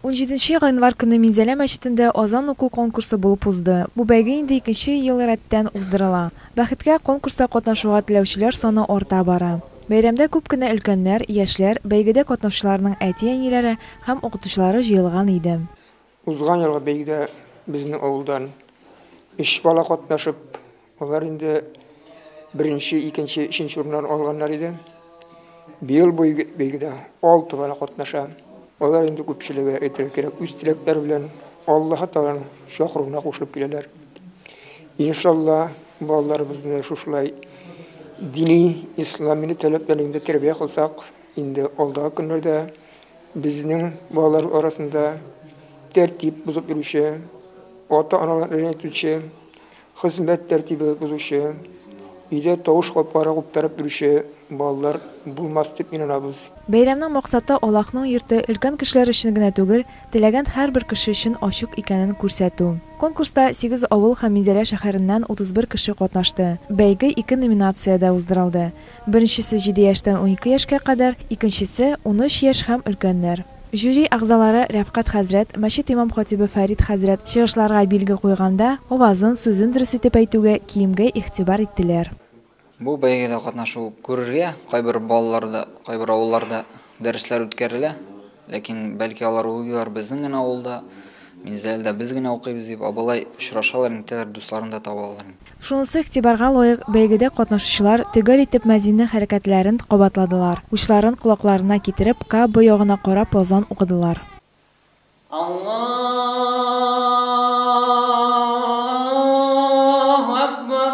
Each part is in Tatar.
Унҗиденче гыйнвар көнне Минзәлә мәчетендә азан уку конкурсы булып узды. Бу бәйге инде икенче ел рәттән уздырыла. Бәхеткә, конкурста катнашуга теләүчеләр саны арта бара. Бәйрәмдә күп кенә өлкәннәр, яшьләр, бәйгедә катнаучыларның әти-әниләре һәм укытучылары җыелган иде. Узган елгы бәйгедә безнең авылдан өч бала катнашып, Алар инде беренче, икенче, өченче урыннар алганнар иде. Быел бу бәйгедә алты бала катнаша. Алар инде күпчелеге әйтергә кирәк үз теләкләре белән Аллаһ Тәгаләнең чакыруына кушылып киләләр. Иншалла, балаларыбызны шушылай дини, ислам милли таләпләрендә тәрбия кылсак, инде алдагы көннәрдә безнең балалар арасында тәртип бозып йөрүче, ата-аналар рәнҗетүче Хезмәт тәртибе бозучы, өйдә тавыш каплары куптарып йөрүче балалар булмас дип инанабыз. Бәйрәмнең максаты Аллаһның йорты өлкән кешеләр өчен генә түгел, теләгән һәрбер кеше өчен ачык икәнен күрсәтү. Конкурста сигез авыл һәм Минзәлә шәһәреннән 31 кеше катнашты. Бәйге ике номинациядә уздырылды. Беренчесе җиде яшьтән унике яшькә кадәр, икенчесе, унөч яшь һәм өлкәннәр. Жюри әгъзалары Рәфкать хәзрәт, мәчет имам-хатибы Фәрит хәзрәт чыгышларга билге куйганда, авазын, сүзен дөрес итеп әйтүгә, киемгә игътибар иттеләр. Бу бәйгедә катнашу күрергә кайбер балаларда, кайбер авылларда дәресләр үткәрелә. Ләкин, бәлки, алар уйлыйлар, безнең генә авылда, Минзәләдә без генә укыйбыз дип, ә болай очрашалар инде, тәгәр дусларын да таба алалар инде. Шунысы игътибарга лаек, бәйгедә катнашучылар төгәл итеп мәзиннең хәрәкәтләрен кабатладылар, учларын колакларына китереп, Ка бо ягына карап азан укыдылар. Аллаһу әкбар!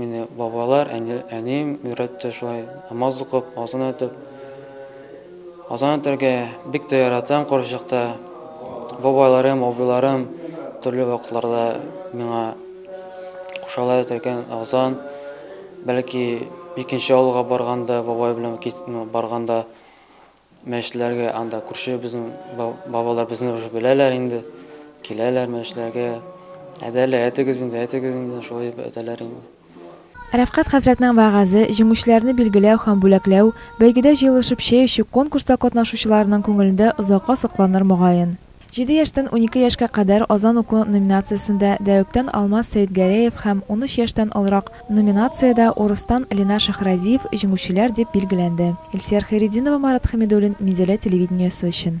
Мине бабайлар, әнием өйрәтте шулай намаз укып, азан әйтеп. Азан әйтергә бик тә яратам карчыкта. Бабайларым, абыйларым төрле вакытларда миңа кушалар әйтергә азан. Бәлки икенче авылга барганда, бабай белән барганда Мәчетләргә анда күрше безнең бабалар безне уже беләләр инде, киләләр мәчетләргә. Әдә әле, әйтегез инде, әйтегез инде, шулай дип әйтәләр инде. Рәфкать хәзрәтнең вәгазе, җиңүчеләрне билгеләү һәм бүләкләү, бәйгедә җыелышып чәй эчү конкурста катнашучыларның күңелендә озакка сакланыр мөгаен. Җиде яшьтән унике яшькә кадәр азан уку номинациясендә Дәүктән Алмаз Сәетгәрәев һәм унөч яшьтән олырак номинациядә Урыстан Линар Шаһразиев җиңүчеләр дип билгеләнде. Илсияр Хәйретдинова, Марат Хәмидуллин, Минзәлә телевидениесе өчен.